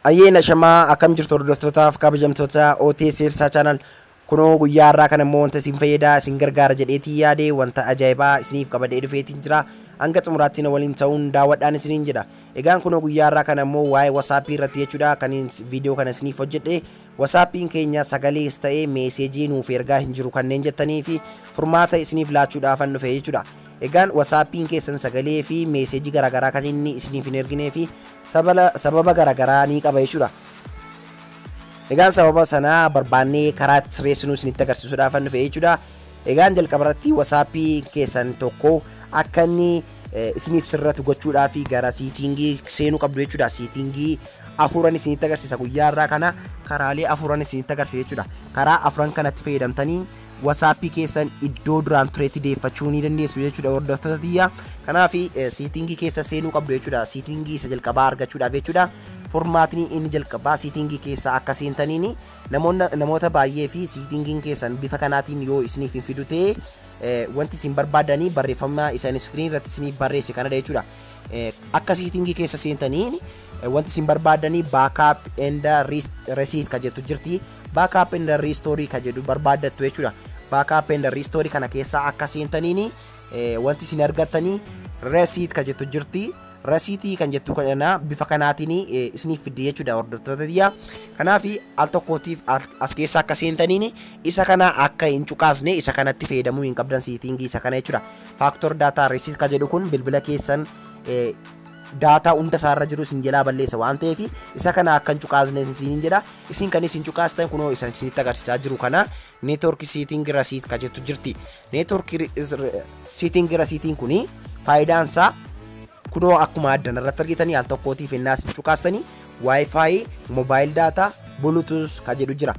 Ayyee nashamaa akkam jirtu hordoftootaaf kabajamtoota OTS Sirsaa Channel kunoo guyyaa har'aa kana immoo wanta isin fayyada isin gargaara jedheetiin yaade wanta ajaa'ibaa isiniif qabadhee dhufeetiin jira hanga xumuraatti na waliin ta'uun daawwadhaan isiniin jedha egaan kunoo guyyaa har'aa kana immoo waa'ee WhatsApp irratti jechuudha kan viidiyoo kana isiniif hojjedhe Wasaappiin keenya sagalees ta'ee meeseejii nuuf ergaa hin jiru kanneen jettaniifi furmaata isiniif laachuudhaafan dhufe jechuudha. Egaan wasaappiin keessan sagalee fi meeseejii garaagaraa kan inni isiniif hin erginee fi sabala sababa garaagaraa ni qaba jechuudha. Egaan sababa sana barbaannee karaa itti sirreessinu isinitti agarsiisuudhaafan dhufe jechuudha. Egaan jalqaba irratti WhatsApp keessan tokko akka inni isiniif sirratu gochuudhaaf gara siitingii seenuu qabdu jechuudha. Siitingii afuuran isinitti agarsiisa guyyaa irraa kana karaalee afuuran isinitti agarsiisa jechuudha. Karaa afuran kanatti fayyadamtanii WhatsApp keessan iddoo duraan turetti deeffachuu ni dandeessu jechuudha hordoftoota tiyya. Kanaaf siitingii keessa seenuu qabdu jechuudha. Siitingii isa jalqabaa argachuudhaaf jechuudha. Furmaatni inni jalqabaa siitingii keessa akka seentaniini Namoonna namoota baay'ee fi siitingiin keessan bifa kanaatiin yoo isiniif hin fidu ta'e wanti isin barbaadanii barreeffama isa inni iskiriin irratti isiniif barreesse kanadha jechuudha. Akka siitingii keessa seentanii wanti isin barbaadanii baakaap enda resiit ka jettu jirti. Baakaap enda riistoorii ka jedhu barbaaddattu jechuudha. Baakaap enda riistoorii kana keessa akka seentaniin wanti isin argattanii resiit ka jettu jirti. Rasiitii kan jettu kana bifa kanaatiin isiniif fidde jechuudha hordoftoota tiyya. Kanaaf al tokkootiif as keessa akka seentaniin isa kana akka hin cuqaasne isa kanatti fayyadamuu hin qabdan seetiingii isa kana jechuudha. Faaktor daataa resiit kan jedhu kun bilbila keessan daataa hunda isaarra jiru isin jalaa balleessa waan ta'eef isa kana akka hin cuqaasne isiniin jedha. Isin kan isin cuqaastan kunoo isa isinitti agarsiisaa jiru kana Network setting receipt ka jettu jirti. Network setting receipt kuni faayidaan isaa kunoo akkuma addan irratti argitanii al tokkootiif hennaa isin cuqaastanii wifi mobile data bluetooth ka jedhu jira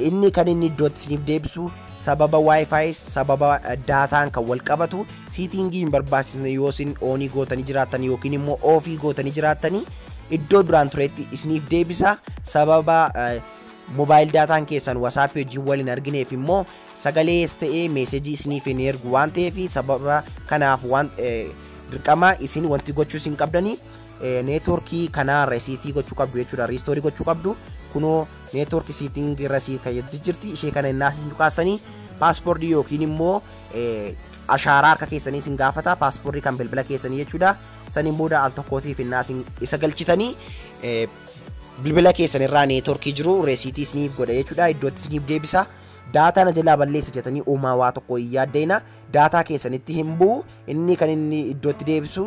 inni kan inni iddootti isiniif deebisu sababa wifi sababa daataan kan wal qabatu siitingii hin barbaachisne yoo isin oonii gootanii jiraattan yookiin immoo oofii gootanii jiraattanii iddoo duraan turetti isiniif deebisa sababa Mobile daataan keessan WhatsApp wajjin wal hin argineef immoo sagalees ta'ee meesejii isiniif hin ergu waan ta'eef sababa kanaaf waan dirqama isin wanti gochuus hin qabdani neetworkii kanaa resiitii gochuu qabdu jechuudha riistoorii gochuu qabdu kunoo neetwork siiting irra sii kayyatti jirti ishee kana innaa isin tuqaasanii paaspoortii yookiin immoo ashaaraa harka keessanii isin gaafata paaspoortii kan bilbila keessanii jechuudha saniin booda al tokkootiif innaa isin isa galchitanii Bilbila keessan irraa neetworkii jiru reesiitii isiniif godha jechuudha. Iddootti isiniif deebisa. Daataa na jalaa balleessa jetanii uumaa waa tokko hin yaaddayina. Daataa keessanitti hin bu'u. Inni kan inni iddootti deebisu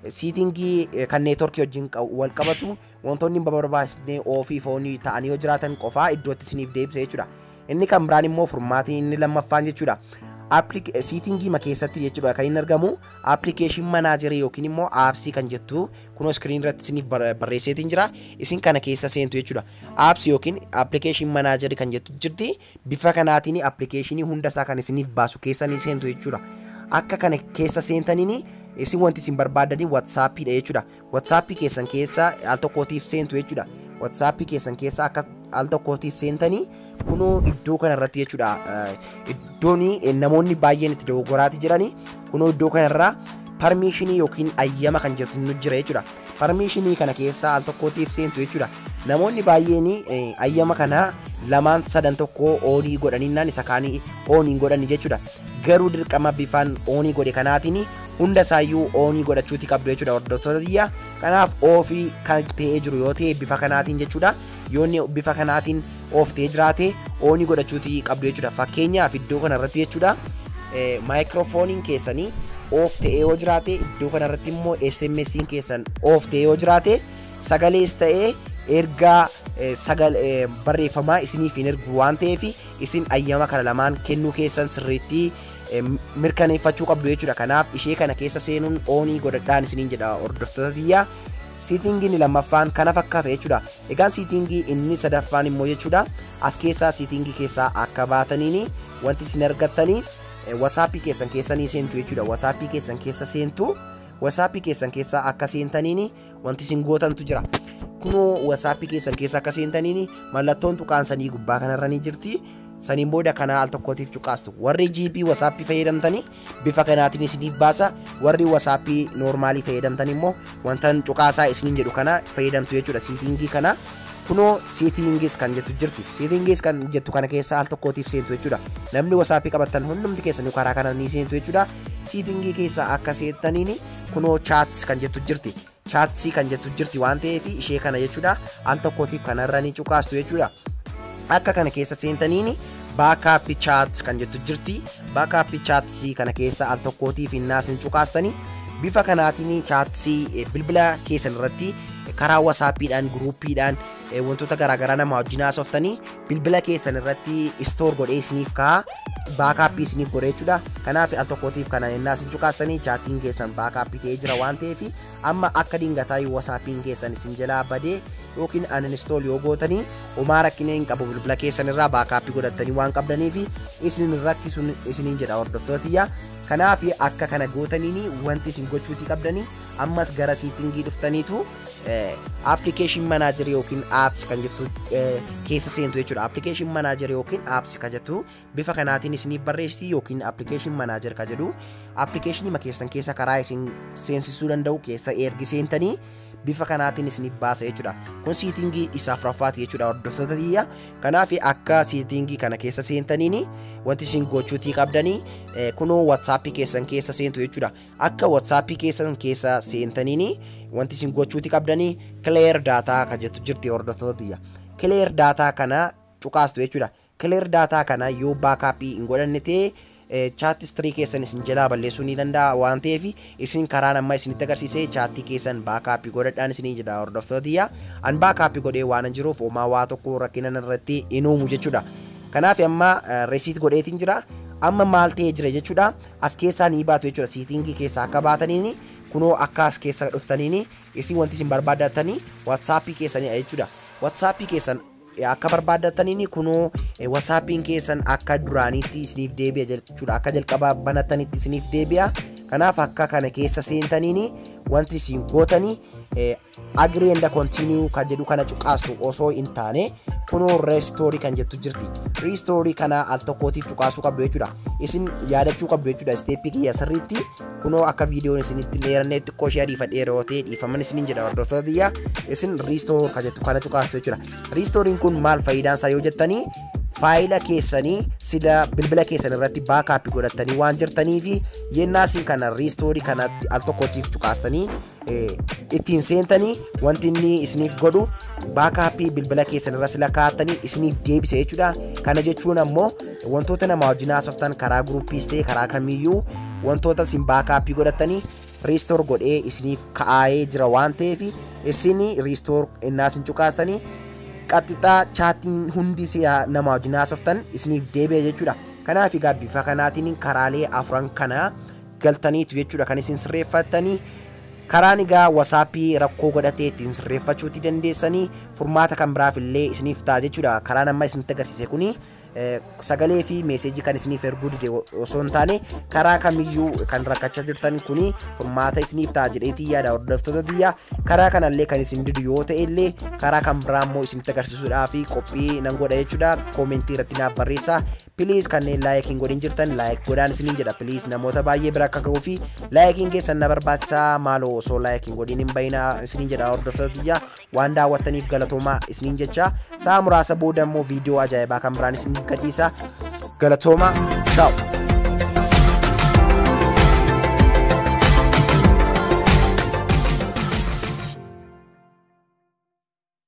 siitingii kan neetworkii wajjin wal qabatu wantoonni hin barbaachisne ofii foonii ta'anii yoo jiraatan qofaa iddootti isiniif deebisa jechuudha. Inni kan biraan immoo furmaatiin inni lammaffaan jechuudha. Siitingiima keessatti jechuudha kan inni argamu appilikeeshin manaajerii yookiin immoo aapsii kan jettu kunoo iskiriin irratti isiniif barreesseetiin jira isin kana keessa seentu jechuudha. Aapsii yookiin appilikeeshin manaajerii kan jettu jirti bifa kanaatiin appilikeeshinii hunda isaa kan isiniif baasu keessa ni seentu jechuudha. Akka kana keessa seentaniin isin wanti isin barbaadanii watsaappidha jechuudha. WhatsApp keessan keessa al tokkootiif seentu jechuudha. WhatsApp keessan keessa akka al tokkootiif seentanii kunoo iddoo kana irratti jechuudha. Iddoon namoonni baay'een itti dogoggoraati jirani kunoo iddoo kana irraa parmiishinii yookiin ayyama kan jettu nu jira jechuudha. Parmiishinii kana keessa al tokkootiif seentu jechuudha. Namoonni baay'een ayyama kana lamaan sadan tokko oonii godhaninnaan isa kaanii oonii godhani jechuudha. Garuu dirqama bifaan oonii godhe kanaatiin hunda isaayyuu oonii godhachuuti qabdu jechuudha hordoftoota tiyya kanaaf oofii kan ta'ee jiru yoo ta'e bifa kanaatiin jechuudha yoonni bifa kanaatiin ooftee jiraate oonii godhachuuti qabdu jechuudha fakkeenyaaf iddoo kana irratti jechuudha maayikiroofooniin keessanii oof ta'ee yoo jiraate iddoo kana irratti immoo SMSiin keessan oof ta'ee yoo jiraate sagalees ta'ee ergaa sagal barreeffamaa isiniif hin ergu waan ta'eef isin ayyama kana lamaan kennuu keessan sirriitti mirkaneeffachuu qabdu jechuudha kanaaf ishee kana keessa seenuun oonii godhadhaan isiniin jedha hordoftoota tiyyaa siitingii inni lammaffaan kana fakkaata jechuudha egaan siitingii inni sadaffaan immoo jechuudha as keessaa siitingii keessaa akka baataniini wanti isin argattanii wasaappii keessan keessanii seentu jechuudha wasaappii keessan keessa seentu wasaappii keessan keessaa akka seentaniini Wanti isin gootantu jira. Kunoo WhatsApp keessan keessa akka seentaniin mallattoon tuqaan sanii gubbaa kanarra ni jirti. Saniin booda kanaa al tokkootiif cuqaastu. Warri GB WhatsApp fayyadamtanii bifa kanaatiin isiniif baasa. Warri WhatsApp noormaalii fayyadamtan immoo wantan cuqaasaa isiniin jedhu kana fayyadamtu jechuudha siitingii kana. Kunoo siitingis kan jettu jirti. Siitingis kan jettu kana keessa al tokkootiif seentu jechuudha. Namni WhatsApp qabattan hundumti keessanuu karaa kanaan ni seentu jechuudha. Siitingii keessa akka seentaniin kunoo chats kan jettu jirti chatsii kan jettu jirti waan ta'eef ishee kana jechuudha al tokkootiif kanarra ni cuqaastu jechuudha akka kana keessa seentaniin baakaapi chaats kan jettu jirti baakaapi chaatsii kana keessa al tokkootiif innaas ni cuqaastanii bifa kanaatiin chaatsii eh, bilbila keessan irratti karaa wasaappiidhaan guruuppiidhaan eh, wantoota garaagaraa nama wajjin haasoftanii bilbila keessan irratti istoor godhee isiniif ka'a baakaappii isiniif godhe jechuudha kanaaf al tokkootiif kana ennaa isin cukaastanii chaattiin keessan baakaappii ta'ee jira waan ta'eef amma akka dingataa yoo wasaappiin keessan isin jalaa badee yookiin aninstool yoo gootanii homaa rakkina hin qabu bilbila keessan irraa baakaappii godhattanii waan qabdaniif isin rakkisuun isiniin jedha hordoftootiyya kanaaf akka kana gootaniin wanti isin gochuutii qabdanii ammas gara siitingii dhuftaniitu application manager yookiin apps kan jettu keessa seentu jechuudha. Application manager yookiin apps kan jettu bifa kanaatiin isiniif barreessiti yookiin application manager kan jedhu application ma keessan keessa karaa isin seensisuu danda'u keessa ergi seentanii bifa kanaatiin isiniif baasa jechuudha. Kun siitingii isa afuraffaati jechuudha hordoftoota tiyya. Kanaaf akka siitingii kana keessa seentaniin wanti isin gochuutii qabdanii kunoo WhatsApp keessan keessa seentu jechuudha. Akka WhatsApp keessan keessa seentaniini wanti isin gochuuti qabdanii clear data ka jettu jirti hordoftoota tiyya. Clear data kana cuqaastu jechuudha. Clear data kana yoo backup hin godhanne ta'e chat history keessan isin jalaa balleessuu ni danda'a waan ta'eef isin karaan amma isinitti agarsiise chaattii keessan baakaappii godhadhaan isinii jedha hordoftoota tiyya an baakaappii godhee waan jiruuf homaa waa tokko rakkinan irratti hin uumu jechuudha. Kanaaf amma resiit godheetiin jira amma maal ta'ee jira jechuudha as keessaa nii baatu jechuudha seetingii keessaa akka baataniini kunoo akka as keessa dhuftaniini isin wanti isin barbaaddatani watsaappii keessanidha jechuudha watsaappii keessan akka barbaaddataniini kunoo watsaappiin keessan akka duraaniitti isiniif deebi'a jechuudha akka jalqaba banattanitti isiniif deebi'a kanaaf akka kana keessa seentaniini wanti isin gootani Agree and continue kan jedhu kana cuqaastu osoo hin taane kunoo restore kan jettu jirti. Restore kana al tokkootiif cuqaasuu qabdu jechuudha. Isin yaadachuu qabdu jechuudha isteeppii kiyya sirriitti kunoo akka viidiyoon isinitti hin dheeranne xiqqoo ishee ariifadhee yeroo ta'e dhiifaman isiniin jedha hordoftoota kiyya isin restore kan jettu kana cuqaastu jechuudha. Restore'n kun maal faayidaan isaa yoo jettanii faayila keessanii sila bilbila keessan irratti baakaappii godhattanii waan jirtanii fi yennaa isin kana riistoorii kanatti al tokkootiif cuqaastanii ittiin seentanii wanti inni isiniif godhu baakaappii bilbila keessan irra sila kaa'attanii isiniif deebisa jechuudha. Kana jechuun ammoo wantoota nama wajjin haasoftan karaa guruuppiis ta'e karaa kamiyyuu wantoota isin baakaappii godhattanii riistoor godhee isiniif kaa'ee jira waan ta'eef isin riistoor innaa isin cuqaastanii qaxxixaa chaatiin hundi si'a nama wajjin haasoftan isiniif deebi'a jechuudha. Kanaaf egaa bifa kanaatiin karaalee afran kana galtaniitu jechuudha kan isin sirreeffattanii karaan egaa wasaappii rakkoo godhatee ittiin sirreeffachuutti dandeessanii furmaata kan biraaf illee isiniif ta'a jechuudha karaan amma isinitti agarsiise kuni eh, sagalee fi meeseejii kan isiniif erguu dide osoo hin taane karaa kamiyyuu kan rakkachaa jirtan kuni furmaata isiniif ta'a jedheetii yaada hordoftoota tiyya karaa kanallee kan isin didu yoo ta'e illee karaa kan biraa immoo isinitti agarsiisuudhaa fi qophii nan godha jechuudha koomentii irratti naaf barreessaa Please kanneen like hin godhin jirtan like godhaan isiniin jedha please namoota baay'ee bira akka ga'uu fi laayikiin keessan na barbaacha maaloo osoo like hin godhin hin bayina isiniin jedha hordoftoota tiyya waan daawwattaniif galatoomaa isiniin jecha sa'a muraasa booda immoo viidiyoo ajaa'ibaa kan biraan isiniif gadhiisa galatoomaa ciao.